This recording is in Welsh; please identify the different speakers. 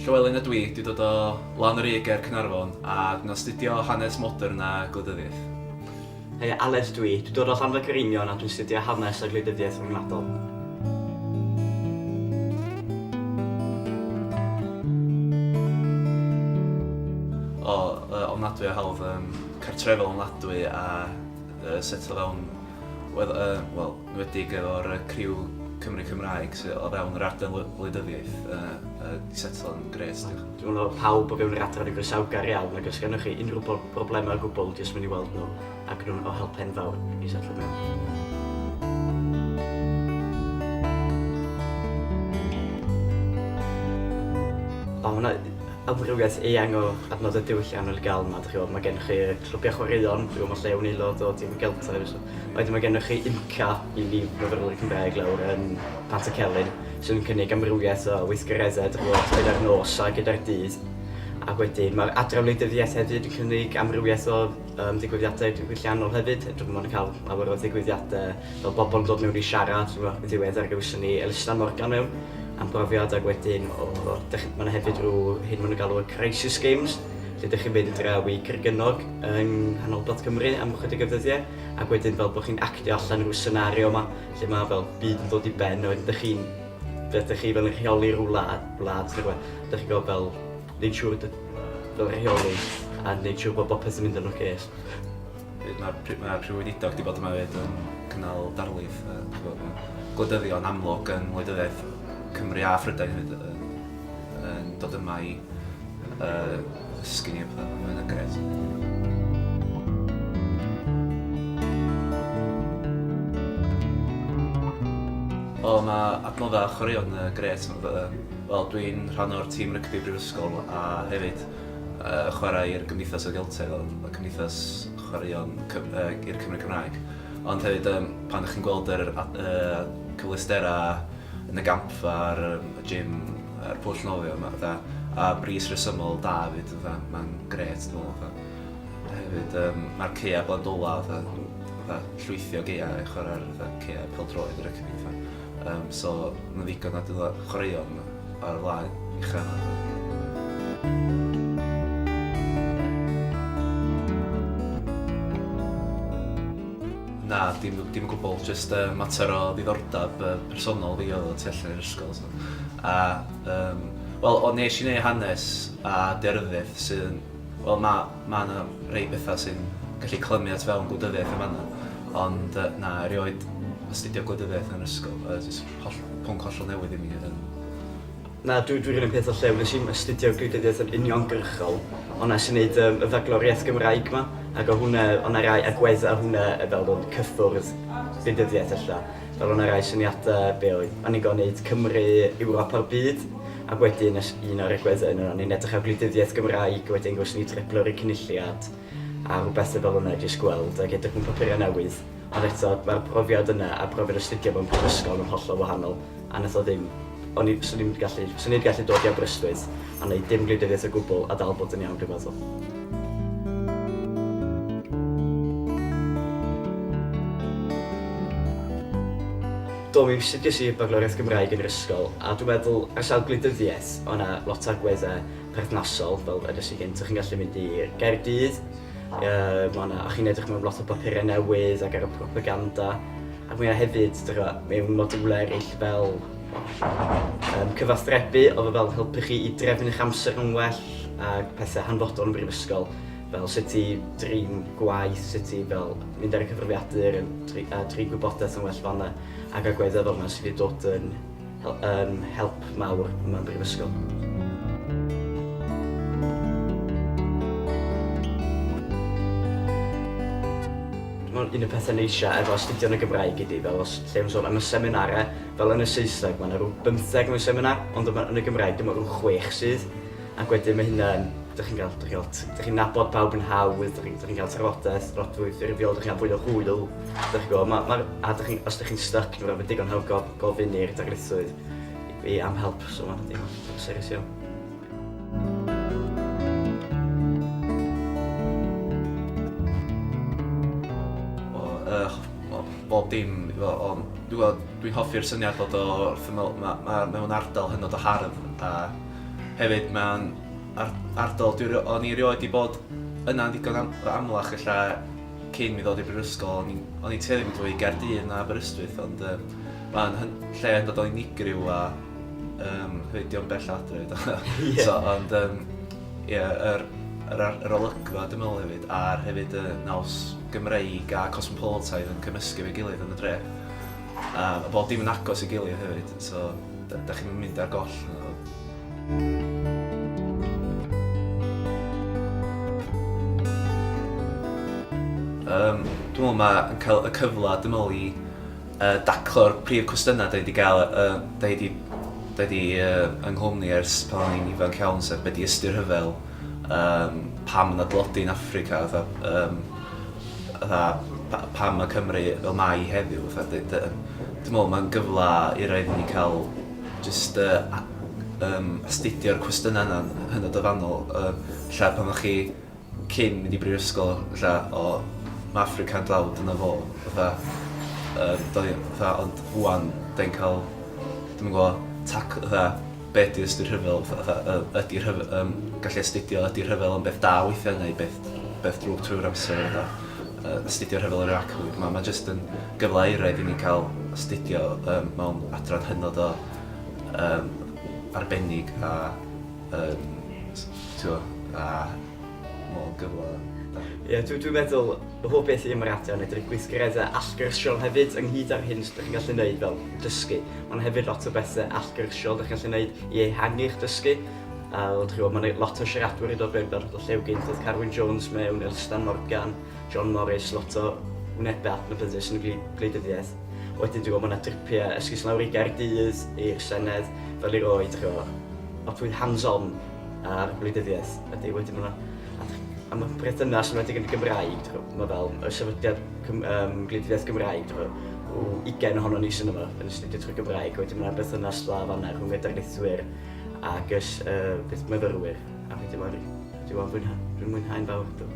Speaker 1: Llywelyn ydw i, dwi dod o lan yr u ger Caernarfon a dwi'n astudio hanes modern a gwleidyddiaeth. Hei,
Speaker 2: Aled dw i, dwi dod o Llanfagreinion a dwi'n astudio hanes a gwleidyddiaeth ryngwladol.
Speaker 1: O, yy, ofnadwy o hawdd, yym. cartrefol ofnadwy a set o fewn wel enwedig efo'r criw Cymry Cymraeg sy o fewn yr ardal wleidyddiaeth yy di setlo yn grêt diolch. Dwi'n meddwl bod pawb
Speaker 2: o fewn yr adran yn groesawgar iawn ac os gennych chi unrhyw broblemau o gwbl jyst mynd i weld nhw ac nhw'n o help enfawr i setlo mewn. Amrywiaeth eang o adnoddau diwylliannol i gael yma, dych chi'n gwybod, mae gennych chi clybiau chwaraeon, dwi'n gwybod mae lle o'n aelod o dîm y Geltaidd, wedyn mae gennych chi IMCA i ni fyfyrwyr Cymraeg lawr yn Pant y Celyn, sy'n cynnig amrywiaeth o weithgareddau, dych chi'n gwybod, gyda'r nos a gyda'r dydd. Ac wedyn mae'r Adran Wleidyddiaeth hefyd yn cynnig amrywiaeth o Am ddigwyddiadau diwylliannol hefyd, rydym yn cael llawer o ddigwyddiadau fel pobl yn dod mewn i siarad, rhywbeth yn ddiweddar gawson ni Elusen Morgan mewn am brofiad ac wedyn o dych chi'n... mae 'na hefyd rhyw hyn maen nhw'n galw y Crisis Games lle dych chi'n mynd draw i Grugynnog yng nghanolbarth Cymru am ychydig o ddyddiau ac wedyn fel bod chi'n actio allan rhyw senario 'ma lle mae fel byd yn dod i ben a wedyn dych chi'n... dych chi fel yn rheoli rhyw wlad wlad neu rhywbeth dych chi'n gwybod fel Neud siŵr bod y fel rheoli a neud siŵr bod bopeth yn mynd yn ocê.
Speaker 1: Mae Prif Weinidog wedi bod yma hefyd yn cynnal darlith a bod yn gwleidyddion amlwg yn wleidyddiaeth Cymru a Phrydain hefyd yn dod yma i ddysgu ni a pethau, mae'n grêt. O, mae adnoddau a chwaraeon yn grêt. Wel dwi'n rhan o'r tîm rygbi brifysgol a hefyd yy chwarae i'r Gymdeithas y Geltaidd o'r y cymdeithas chwaraeon cyf- yy i'r Cymry Cymraeg ond hefyd yym pan dych chi'n gweld yr a- yy cyfleustera yn y gampfa a'r yym y gym a'r pwll nofio ma' fatha a bris resymol da efyd fatha ma'n grêt dwi me'wl fatha hefyd yym ma'r caea' Gwladwla fatha fatha llwythi o gaea' i chwara'r fatha caea' pêl-droed rygbi fatha Yym so ma' ddigon o adela- chwaraeon ar y wlad ucha 'na. Na dim dim o gwbwl jyst yy mater o ddiddordab yy personol fi odd o tu allan i'r ysgol so a yym wel o nesh i neu' hanes a derfysg sydd yn wel na Mae yna rei pethau sy'n gallu clymu at fewn gwleidyddiaeth yn fan'na, ond yy na, erioed astudio gwleidyddiaeth yn yr ysgol, oedd jyst holl- pwnc hollol newydd i mi oedd hyn. Na,
Speaker 2: dwi dwi 'r un peth â Llew, nes i'm astudio gwleidyddiaeth yn uniongyrchol, ond nes i neud yym y Fagloriaeth Gymraeg 'ma, ac o hwnna o' 'na rai agwedda' o hwnna fel bod cyffwrdd gwleidyddiaeth ella. Fel yna rai syniadau, be oedd annigo wneud Cymru, Ewrop a'r byd? Ac wedyn nes un o'r egwyddau yn yno, ni'n edrych ar gwleidyddiaeth Gymraeg, wedyn gwrs ni'n treblu ar y Cynulliad a rhywbeth fel yna jyst gweld ac edrych mewn papurau newydd. Ond eto, mae'r profiad yna a profiad astudio mewn prifysgol yn hollol wahanol a wnaeth o ddim O'n i, swn i'n gallu, swn i'n gallu dod i Aberystwyth a wneud dim gwleidyddiaeth o gwbl a dal bod yn iawn, dwi'n meddwl. do mi sugges i bagloriaeth Gymraeg yn yr ysgol, a dwi'n meddwl, ar sawl gwleidyddiaeth, o yna lot o agweddau perthnasol, fel ydys i gynt, chi'n gallu mynd i Gaerdydd, uh, mae yna, a chi'n edrych mewn lot o bapurau newydd ac ar y propaganda, A mae 'na hefyd, dych chibod, mewn modiwlau eraill fel yym cyfathrebu oedd o fel helpu chi i drefnu eich amser yn well a pethau hanfodol yn brifysgol fel sut i drin gwaith, sut i fel mynd ar y cyfrifiadur a drin gwybodaeth yn well fan'na ac agweddau fel 'na sydd wedi dod yn yn help mawr yma yn Brifysgol. Dwi'n meddwl un o'r pethau neisiau efo astudio yn y Gymraeg ydi fel os lle o'n sôn am y seminarau fel yn y Saesneg ma' 'na rw bymtheg mewn seminar ond yma yn y Gymraeg dyma rw chwech sydd ac wedyn ma' hynna yn dych chi'n ga'l dych chi'n ga'l dych chi'n nabod pawb yn hawdd dych chi'n dych chi'n ga'l trafodaeth lot fwy ffurfiol dych chi'n ca'l fwy o hwyl dych chi'n gwbod ma' ma'r a dych chi'n os dych chi'n styc ma' raid bod digon hawdd ga'l gofyn i'r darlithwyr i am help, so mae'n teimlo yn serys iawn.
Speaker 1: bob dim iddo fo ond dwi gweld dwi'n hoffi'r syniad bod o wrth ymyl ma' ma' mewn ardal hynod o hardd a hefyd ma'n ar- ardal dwi ri- o'n i rioed 'di bod yna'n ddigon am- amlach ella Cyn mi ddod i'r brifysgol o'n i'n o'n i'n tueddu mynd fwy i Gaerdydd na Aberystwyth ond yym ma'n hyn- lle yn dod o'n unigryw a yym hefyd dio'm bell o adre do? Ie. So ond yym ie yr yr ar- yr olygfa dwi me'wl hefyd a'r hefyd y naws Gymreig a cosmopolitaidd yn cymysgu efo'i gilydd yn y dre. A bod dim yn agos i gilydd hefyd, so dach chi'm yn mynd ar goll na fo. Yym dwi me'wl ma' yn ca'l y cyfla dwi me'wl i yy daclo'r prif cwestyna 'da ni 'di ga'l yy yy 'da ni 'di 'da ni yy yng nghwmni ers pan o'n i'n ifanc iawn sef be' 'di ystyr rhyfel? um, pam yna dlodi yn Africa, fatha, um, fatha, pam mae Cymru fel mai heddiw, fatha, dwi'n meddwl mae'n gyfle i roi ni cael just uh, um, astudio'r cwestiynau yna yn hynod o fanol. Um, lle pan o'ch chi cyn mynd i brifysgol, lle o, mae Africa'n dlawd yna fo, fatha, um, doi, fatha, ond wwan, da'n cael, dwi'n gwybod, tac, fatha, be ydi ystyr rhyfel, fatha yy ydi rhyf- yym gallu astudio ydi rhyfel yn beth da weithiau neu beth beth drwg trwy'r amser a fatha yy astudio rhyfel yr Iraciwr, ma' ma' jyst yn gyfle euraidd i ni cael astudio yym mewn adran hynod o yym arbennig a yym s- t'wo' a Mor gyfle da. Ie, dw, dwi'n
Speaker 2: meddwl y holl beth i ymaradu a medru gweithgaredda allgyrsiol hefyd ynghyd â'r hyn dych chi'n gallu wneud fel dysgu. Ond hefyd lot o bethe allgyrsiol dych chi'n gallu wneud i ehangu'ch dysgu. A wel, dych chi'n gwybod, mae lot o siaradwyr yn dod mewn fel rhywbeth o Llew Gynt, oedd Carwyn Jones mewn, Elstan Morgan, John Morris, lot o wnebau adnabyddus yn y gwleidyddiaeth. Wedyn dwi'n gwybod mae yna dripiau esgus lawr i Gaerdydd, i'r Senedd, fel i roi, dych chi'n gwybod, lot fwy hands-on a'r gwleidyddiaeth ydy. Wedyn mae am y perthynas yn wedi yn Gymraeg, mae fel y sefydliad um, gwleidyddiaeth Gymraeg, o 20 ohono ni sy'n yma yn astudio trwy Gymraeg, wedyn mae'n berthynas dda fanna rhwng y darlithwyr ac ys, uh, beth myfyrwyr, a wedyn mae'n dwi'n mwynhau'n fawr.